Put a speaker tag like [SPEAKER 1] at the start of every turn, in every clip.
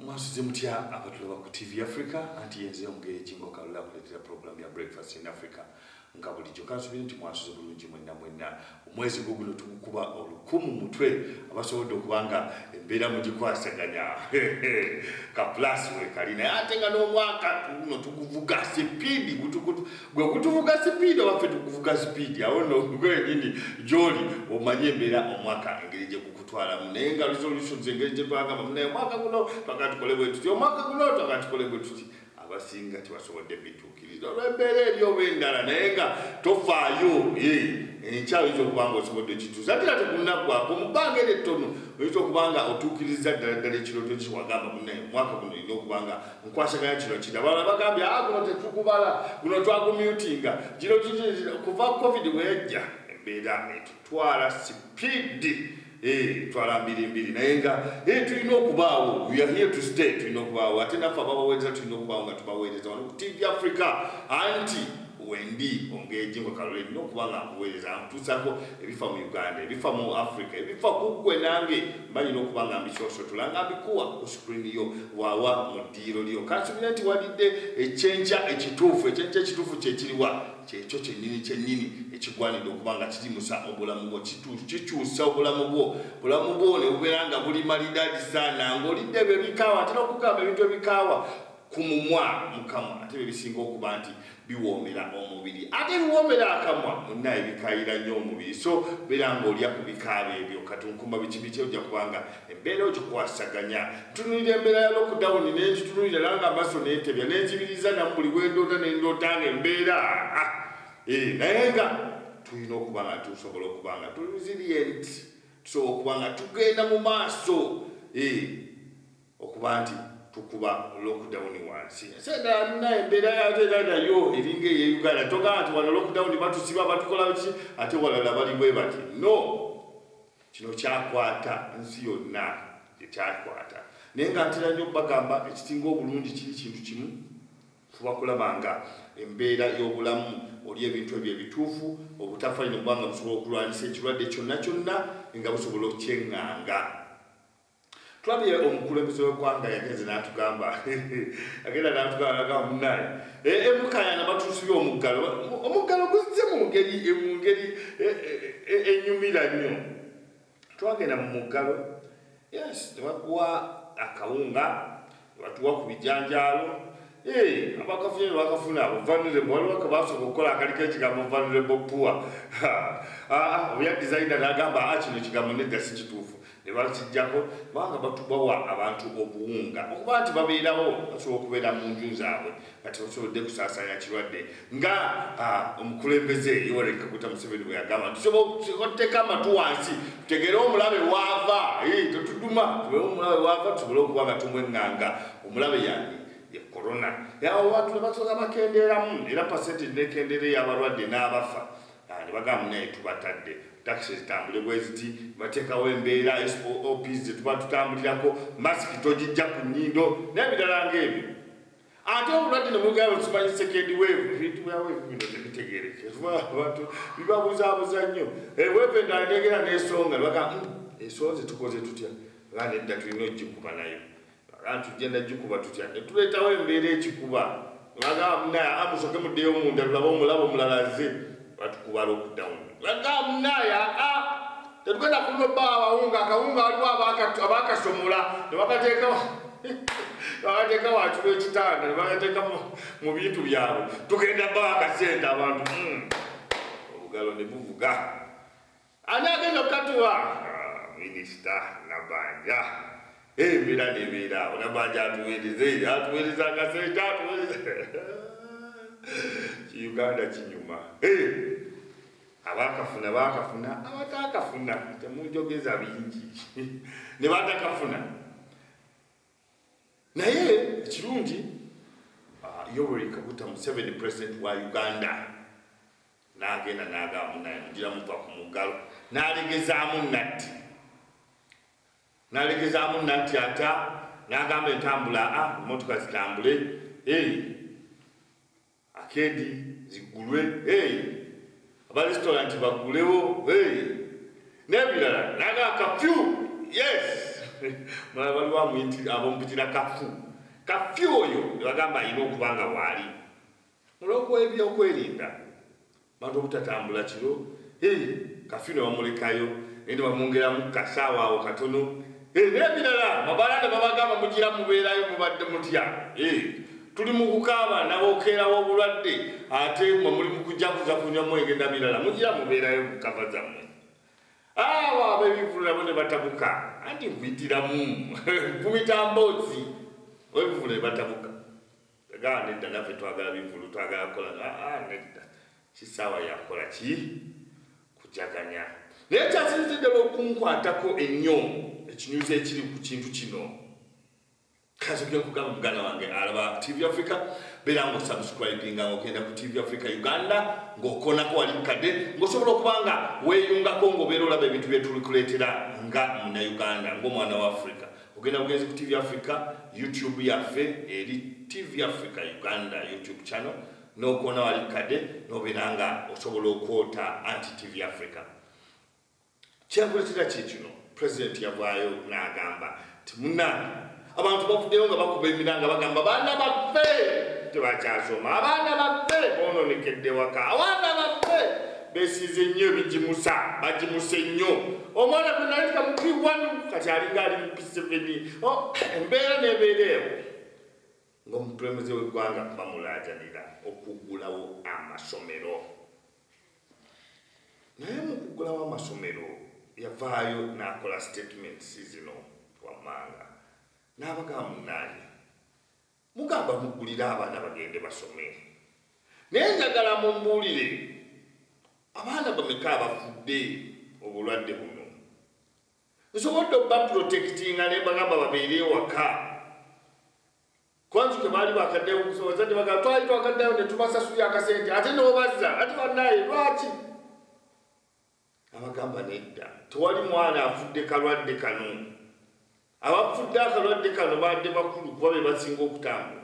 [SPEAKER 1] mwasuze mutya abatulaba ku tv africa anti yenze omugere kingo kalula akuletera program ya breakfast in africa nga bulijjo kansubire nti mwasuze bulungi mwenna mwenna omwezi gwo guno tugukuba olukumu mutwe abasobodde okuba nga embeera mugikwasaganya ka plus wekali naye ate nga n'omwaka guno tuguvuga sipiidi gwe gutuvuga sipiidi obaffe tuguvuga sipiidi awo no gwenyini gyoli omanye embeera omwaka engeri gyeguku twalamu naye nga resolutions engeri gye twagamba munaye omwaka guno twaga tukole bwe tuti omwaka guno twaga tukole bwe tuti abasinga tebasobodde bituukiriza olw'embeera eri oba endala naye nga tofaayo enkyawo yinza okuba nga osobodde okituusa ate ate kunaggwako mu bbanga eri ettono oyinza okuba nga otuukirizza ddala ddala ekirooto kiwagamba munaye omwaka guno olina okuba nga nkwasaganya kino kiri abalala bagambye a ah, guno tetugubala guno twagumyutinga gino kuva covid weyajja embeera etu twala sipiidi eh, twala mbirimbiri naye nga eh, tulina okubaawo we are here to stay tulina okubaawo ate naffe ababaweereza tulina okubaawo nga tubaweereza wano ku tv africa anti wendi ongeji nga kalole no kuba nga nkuweereza nkutuusako ebifa mu uganda ebifa mu africa ebifa ku ggwe nange mbanyi n'okuba nga mbisosotola nga mbikuwa ku screen yo wawa mu ddiiro lyo kansubira nti walidde ekyenkya ekituufu ekyenkya ekituufu kyekiriwa kyekyo kyenyini kyenyini ekigwanidde okuba nga kigimusa obulamu bwo kikyusa obulamu bwo bulamu bwo nebubeera nga buli malidadi sana ngaolidde ebyo ebikaawa atera okugamba ebintu ebikaawa ku mumwa mukamwa ate byebisinga okuba nti biwoomera omubiri ate biwoomera akamwa munna ebikayira nnyo omubiri so beera ngaolya ku bikaaba ebyo kati nkumba bikibiki ojja kubanga embeera ogikwasaganya ntunulira embeera ya lockdown nengitunulira nanga amaso nentebya nenzibiriza namu buli wendoota nendoota nga embeera ah, eh, naye nga tulina okuba nga tusobola okuba nga tuli resilient tusobola okuba nga tugenda mu maaso eh, okuba nti tukuba lockdown wansi sedalina embeera yato era nayo eringa eye uganda togaa nti wano lockdown batusiba batukola ki ate walala bali bwe bati no kino kyakwata nsi yonna ekyakwata naye nga ntera nnyo okubagamba ekisinga obulungi kiri kintu kimu fuba kulaba nga embeera y'obulamu oli ebintu ebyo ebituufu obutafalino kubanga busobola okulwanyisa ekirwadde kyonna kyonna nga busobola okukyeŋŋanga Tulabye omukulembeze w'eggwanga yagenze n'atugamba agenda n'atugamba naga munaye emukayana eh, eh, batuusibye omuggalo omuggalo guzze mu ngeri eh, mu ngeri enyumira nnyo twagenda mu muggalo yes nebakuwa akawunga batuwa ku bijanjaalo eh, abakafunye nebakafuna vulnerable waliwo kebasobola okukola akaliko ekigambo vulnerable poor ah, ah, oya designa nagamba ah, kino ekigambo nedda si kituufu nebakijjako kubanga batubawa abantu obuwunga okuba nti babeerawo basobola okubeera mu nju zaabwe nga tebasobodde kusaasanya kirwadde nga omukulembeze Yoweri Kaguta Museveni bwe yagamba tusobotteeka amatu wansi tutegeere omulabe waava tetuduma tubere omulabe waava tusobole okuba nga tumweŋŋanga omulabe yani ye korona yawo abantu ne basoza bakendeeramu era pasente nekendeera ey'abalwadde n'abafa ne bagamba naye tubatadde takisi zitambule bwe ziti bateekawo embeera sops zetuba tutambulirako masiki togijja ku nnyindo n'ebirala ng'ebyo ate obulwadde ne mugamba tumanyi sekendi weevu ebintu bya weevu bino tebitegeereke kuba abantu bibabuzaabuza nnyo eh, weevu endala negera n'esonga baga hmm, esonze tukoze tutya nga nedda tulina okugikuba nayo aga tugenda gikuba tutya ne tuleetawo embeera ekikuba nga aga musoke muddeyo munda lulaba omulaba omulala azze batukubala okudamu bagamunaya a tetugenda kuno ba abawunga akawunga waliwo abakasomola nebakateeka bakateeka wansi wekitanda nebakateeka mu bintu byabwe tugenda ba akasente abantu hmm. obugalo ne buvuga Ani agenda okukatuwa? Ah, minisita Nabanja embeera nebeera awo Nabanja atuweereze atuweereza akasente atuweereze kiuganda kinyuma abakafuna bakafuna abatakafuna temunjogeza bingi nebatakafuna naye ekirungi ah, yoweri kaguta museveni president wa uganda nagenda nagamu naye mugira muva ku muggalo nalegezaamu natti nalegezaamu natti ata nagamba entambula a ah, emotoka zitambule eh. akeedi ziggulwe hey. abaresitoranti baggulewo hey. n'ebirala naga kafyu yes mala bali bamuyiti abomupitira kafu kafyu oyo nebagamba alina okuba nga waali olwokuwa ebyokwerinda bantu obutatambula kiro hey, kafyu nebamulekayo naye nebamwongeramu kasaawa awo katono hey, nebirala mabala nebabagamba mugira mubeerayo mubadde mutya hey, tuli mukukaaba nabokeerawo obulwadde ate mwe muli mukujakuza kunywa mwenge nabirala mugira mubeerayo mukava zammwe awo abebivulu nabo nebatabuka anti nkuyitiramu nkumitambozi webivulu nebatabuka Gaa nedda naffe twagala bivulu twagala kukola aa nedda kisaawa yakukola ki kujaganya naye kyasinze ddala okunkwatako ennyo ekinyuzi ekiri ku kintu kino kazogera kugamba muganda wange alaba tv africa beera nga osubscribinga nga ogenda ku tv africa uganda ng'okonako wali mukadde ng'osobola okuba nga weeyungako ng'obeera olaba ebintu byetulikuleetera nga munauganda ng'omwana wa africa ogenda bugenzi ku tv africa youtube yaffe eri tv africa uganda youtube channel nokuona wali kade nobeera nga osobola okwota anti tv africa kyenkuletera kyekino president yavaayo nagamba ti munange abantu bavuddeyo nga bakuba emiranga bagamba baana baffe tebakyasoma abaana baffe bononekedde waka abaana baffe besiize nnyo ebigimusa bagimuse nnyo omwana gwe nali kamupi wanu kati alinga ali mu piseveni oh, embeera nebeera ewo ngaomukulembeze w'eggwanga bamulaajanira okuggulawo amasomero naye mu kuggulawo amasomero yavaayo n'akola statements zino wammanga n'abagamba munaaye Mugamba mugulire abaana bagende basome, naye njagala mumbuulire abaana bameka abafudde obulwadde buno? Nsobodde oba protectinga ne bagamba babeere ewaka kwanzi ke baali bakaddeyo okusobozadde bagamba twali twakaddayo ne tubasasulira akasente ate n'obazza ate banaye lwaki abagamba nedda tewali mwana afudde kalwadde kano abafudde akalwadde kano badde bakulu kuba be basinga okutambula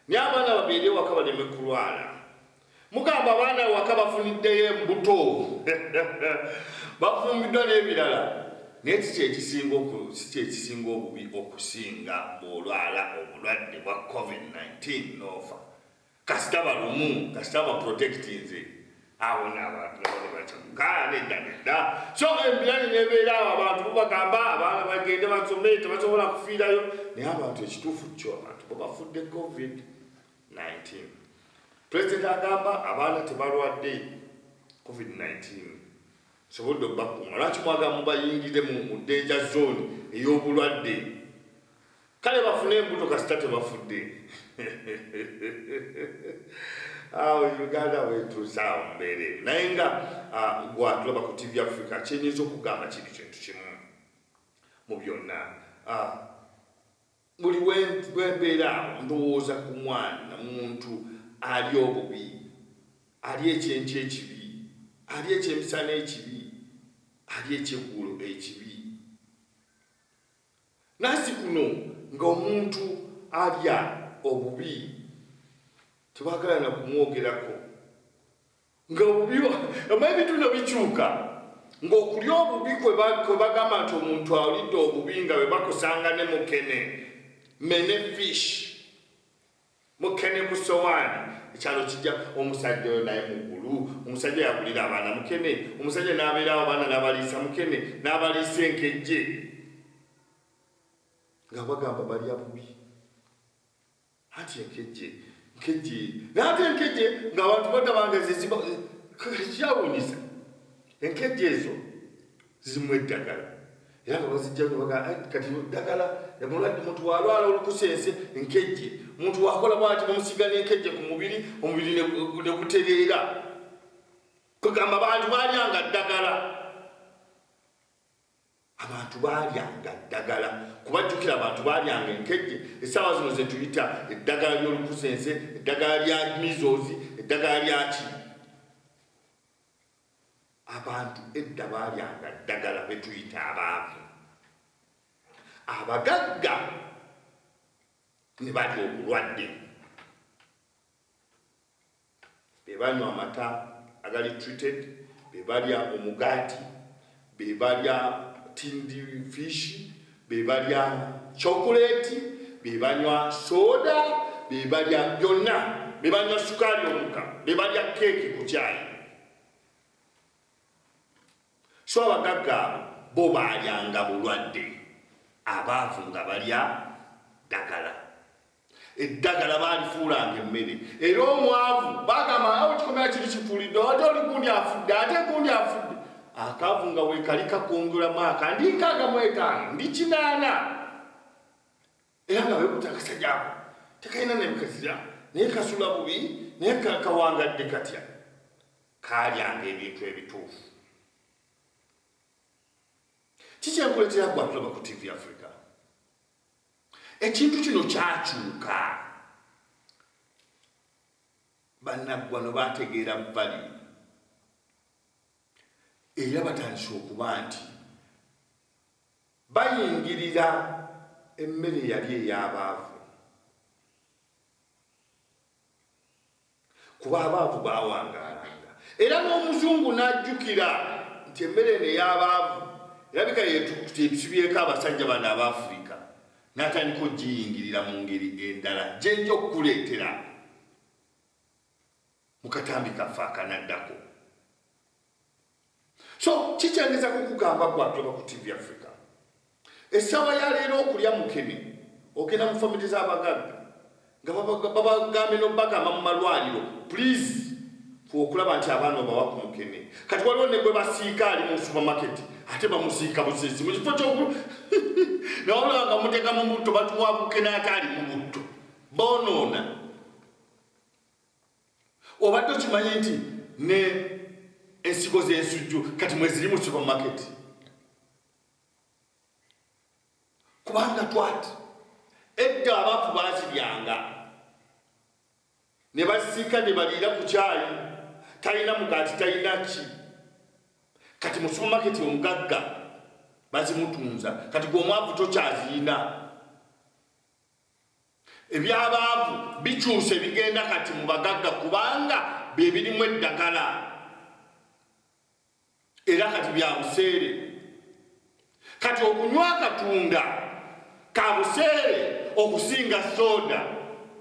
[SPEAKER 1] naye abaana babeere ewaka baleme kulwala mugamba abaana ewaka bafuniddeyo embuto bafumbiddwa n'ebirala naye kikyekisinga kikyekisinga obubi okusinga bwolwala obulwadde bwa covid-19 nofa kasita balumu kasita baprotectinze awo nabantu nabanebacamukaneddanedda so embirani nebeera awo abantu bubagamba abaana bagende basome tebasobola kufiirayo naye abantu ekituufu kyo abantu bebafudde covid 19 president agamba abaana tebalwadde covid 19 sobodde obakuuma lwaki mwaga mubayingiremu mu denja zone ey'obulwadde kale bafune embuto kasita tebafudde awo uganda wetuusaawo mbeere naye nga gwatulaba ku tv africa kyenyinza okugamba kiri kintu kimu mu byonna buli wembeera ndowooza ku mwana muntu ali obubi ali ekyenky ekibi ali ekyemisana ekibi ali ekyeggulo ekibi Nasi kuno nga omuntu alya obubi tebagala na kumwogerako nga obubi ama ebintu bino bikyuka ng'okulya obubi kwe bagamba nti omuntu alidde obubi nga bwe bakusanga ne mukene mene fish Mukene ku sowaani ekyalo kijja omusajja oyo naye mugulu omusajja yagulira abaana mukene omusajja n'abeerawo abaana n'abaliisa mukene n'abaliisa enkejje nga bagamba balya bubi anti enkejje nkejje naate enkejje nga abantu badabanga zeziba kyawunyisa enkejje ezo zimu eddagala era nga bazijja baga eh, kati ddagala mulwadde muntu walwala olukusense nkejje muntu wakola bwati bamusiga nenkejje ku mubiri omubiri negutereera kugamba bantu balyanga ddagala abantu balyanga ddagala kubajjukira abantu balyanga enkejje esaawa zino zetuyita eddagala lyolukusense eddagala lya mizozi eddagala lyaki abantu edda baalyanga ddagala betuyita abaavu abagagga ne bali obulwadde bebanywa amata agali treated bebalya omugaati be balya tindi fish be balya chocolate be banywa soda be balya byonna be banywa sukaali omuka be balya keeki ku kyayi so abagagga abo bo balyanga bulwadde abaavu nga balya ddagala eddagala baalifuulanga emmere era omwavu bagamba awo kikomera kiri kifuulidde ate oli gundi afudde ate gundi afudde akaavu nga weekali kakungula mwaka ndi nkaaga mu etaano ndi kinaana era nga wekuta akasajako tekalina nebikazira naye kasula bubi naye kawangadde katya kaalyanga ebintu ebituufu kikyenkuletera gwantuloba ku tv africa ekintu kino kyakyuka banaggwano bategeera bali era batandise okuba nti bayingirira emmere yali ey'abaavu kuba abaavu baawangaalanga era n'omuzungu n'ajjukira nti emmere eno ey'abaavu erabika yetusibyeko abasajja bano aba afirika n'atandika okugiyingirira mu ngeri endala gyenja okukuleetera mu katambi kaffe akanaddako so kikyengeza kukugamba gwajoba ku tv africa esawa yaleero okulya mukene ogenda mu famili z'abagagga nga babagambye nobagamba mu malwaliro please okulaba nti abaana obawa ku mukene kati waliwo ne gwe basiika ali mu supermarket ate bamusiika busezi mu kifo kyoku nawulaba nga muteeka mu butto batuwa bukene ate ali mu butto bonoona obadde okimanyi nti ne ensigo z'ensujju kati mweziri mu supermarket kubanga twati edda abantu baziryanga ne basiika ne baliira ku kyayi talina mugaati talina ki kati mu supermarket omugagga bazimutunza kati gweomwavu tokyaziyina Eby'abaavu bikyuse bigenda kati mu bagagga kubanga bye birimu eddagala era kati bya buseere. Kati okunywa akatunda ka buseere okusinga sooda.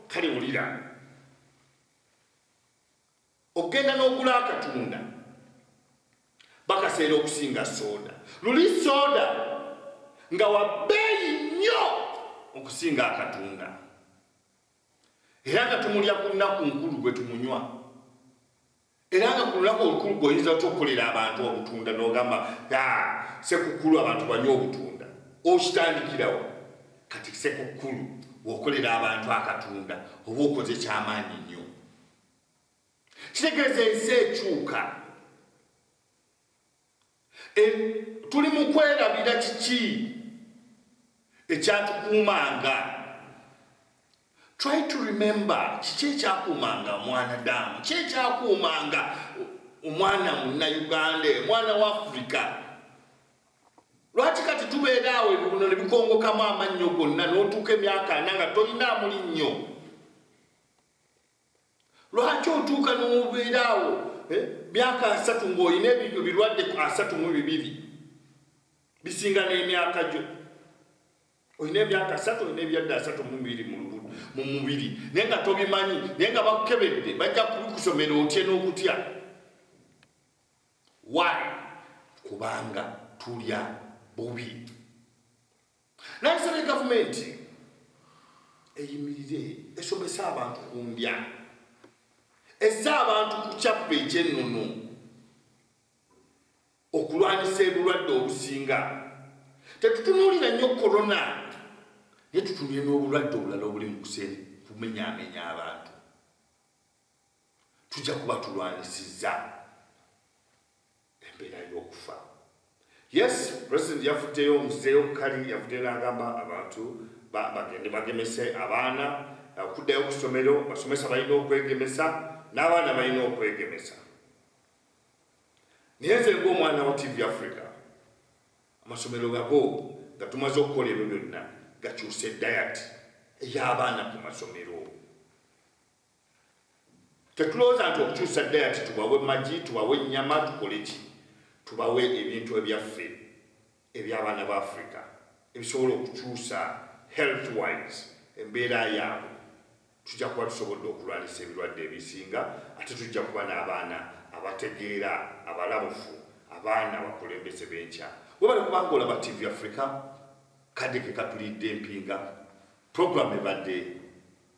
[SPEAKER 1] Kale wulira. okugenda n'ogula akatunda bakaseera okusinga soda luli soda nga wabbeeyi nnyo okusinga akatunda era nga tumulya ku lunaku nkulu gwe tumunywa era nga ku lunaku olukulu gweoyinza otya okukolera abantu obutunda nogamba sekukkulu abantu banywa obutunda okitandikirawo kati sekukkulu wokolera abantu akatunda oba okoze kyamaanyi nnyo kitegeeza ensi ekyuka e, tuli mu kwerabira kiki ekyatukuumanga try to remember kiki ekyakuumanga omwana damu ki ekyakuumanga omwana munauganda omwana wa afrika lwaki kati tubeera awo ebiguno ne bikongokamu amannyo gonna n'otuuka emyaka ana nga tolina amuli nnyo lwaki otuuka nomubeeraawo eh, myaka asatu ngaolina ebyo birwadde ku asatu mu bibiri bisinga n'emyaka gyo olina emyaka asatu olina ebyadde asatu mubiri mu mubiri naye nga tobimanyi naye nga bakukebedde bajja kubikusomera otye n'okutya why kubanga tulya bubi Nayisabye gavumenti eyimirire esomese abantu ku ndya esse abantu ku kyaffe ekyennono okulwanyisa ebulwadde obusinga tetutunuulira nnyo korona naye tutunire n'obulwadde obulala obuli mu kusene kumenyaamenya abantu tujja kuba tulwanyisizza embeera y'okufa yes president yavuddeyo omuzeeyo kukali yavuddeyo n'agamba abantu bagende bagemese abaana okuddayo ku ssomero basomesa balina okwegemesa n'abaana balina okwegemesa naye nze ngaomwana wa tv africa amasomero gago nga tumaze okukola ebyo byonna gakyuse dayati ey'abaana ku masomero Tetulowooza nti okukyusa dayati tubawe magi, tubawe ennyama, tukole ki? Tubawe ebintu ebyaffe eby'abaana ba Africa ebisobola okukyusa health wise embeera yaabwe, tujja kuba tusobodde okulwanyisa ebirwadde ebisinga ate tujja kuba n'abaana abategeera, abalabufu, abaana abakulembeze b'enkya. Webale kuba ng'olaba TV Africa, kadde ke katulidde mpinga, program ebadde.